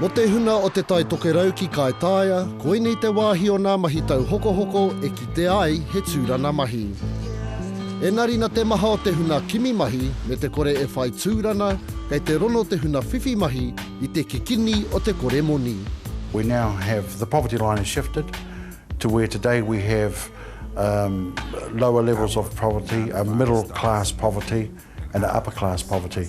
Mo te huna o Te Tai Tokerau ki Kaitaia, koinei te wāhi o nā mahi tauhokohoko e kite ai he tūrana mahi. Enari na te maha o te huna kimi mahi me te kore e whai tūrana, kei te rono te huna whiwhi mahi i te kikini o te kore moni. We now have the poverty line has shifted to where today we have lower levels of poverty, a middle class poverty and a upper class poverty.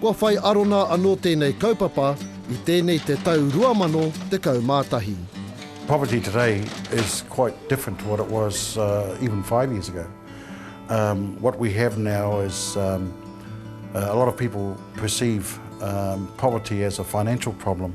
Kua whai arona anō tēnei kaupapa i tēnei te tau 2011. Poverty today is quite different to what it was even five years ago. What we have now is a lot of people perceive poverty as a financial problem.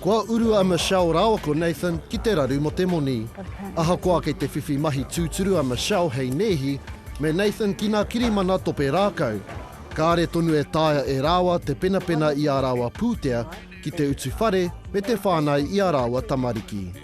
Kua uru a Michelle rāua ko Nathan ki te raru mō te moni. Ahakoa kei te whiwhi mahi tūturu a Michelle hei nēhi me Nathan ki nā kirimana tope rākau, kāre tonu e taea e rāua te penapena i ā rāua pūtea ki te utu whare me te whānau i ā rāua tamariki.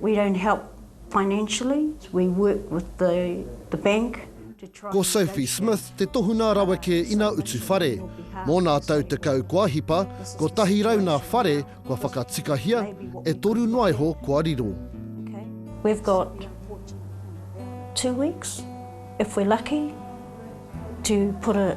We don't help financially, we work with the the bank to try. Ko Sophie Smith te tohunga rawa kē ina utu whare. Mō nā tau tekau kua hipa, kotahi rau nā whare kua whakatikahia, e toru noa iho kua riro. We've got two weeks, if we're lucky, to put a.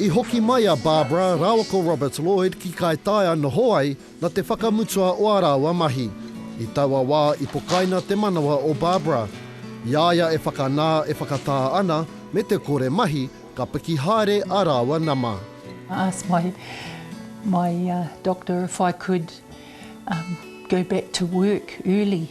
I hoki mai a Barbara rāua ko Robert Lloyd ki Kaitaia noho ai na te whakamutua o a rāua mahi. I taua wā i pokaina te manawa o Barbara. I a ia e whakanā e whakatā ana me te kore mahi ka piki haere a rāua nama. I asked my my doctor if I could go back to work early.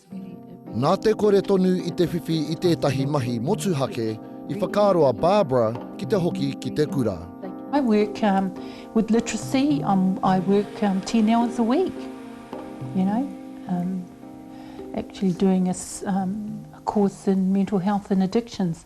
Nā te kore tonu i te whiwhi i tētahi mahi motuhake, i whakaaro a Barbara ki te hoki ki te kura. I work with literacy, I work ten hours a week, you know, actually doing a course in mental health and addictions.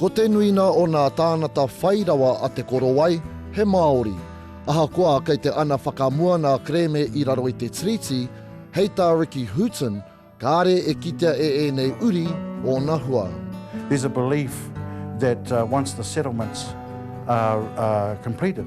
Ko te nuina o nā tānata whai rawa a Te Korowai, he Māori. Ahakoa kei te ana whakamua nā kerēme i raro i te Tiriti, hei tā Ricky Hooton, kāre e kitea e ēnei uri ōna hua. There's a belief that once the settlements are completed,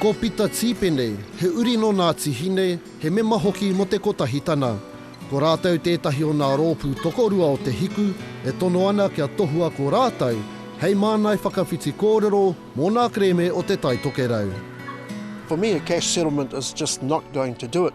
Ko Pita Tīpene, he uri nō Ngāti Hine, he mema hoki mō te Kotahi Tana. Ko rātou tētahi o ngā rōpū tokorua o Te Hiku e tono ana kia tohua ko rātou hei māngai whakawhiti kōrero mō ngā kerēme o Te Tai Tokerau. For me a cash settlement is just not going to do it.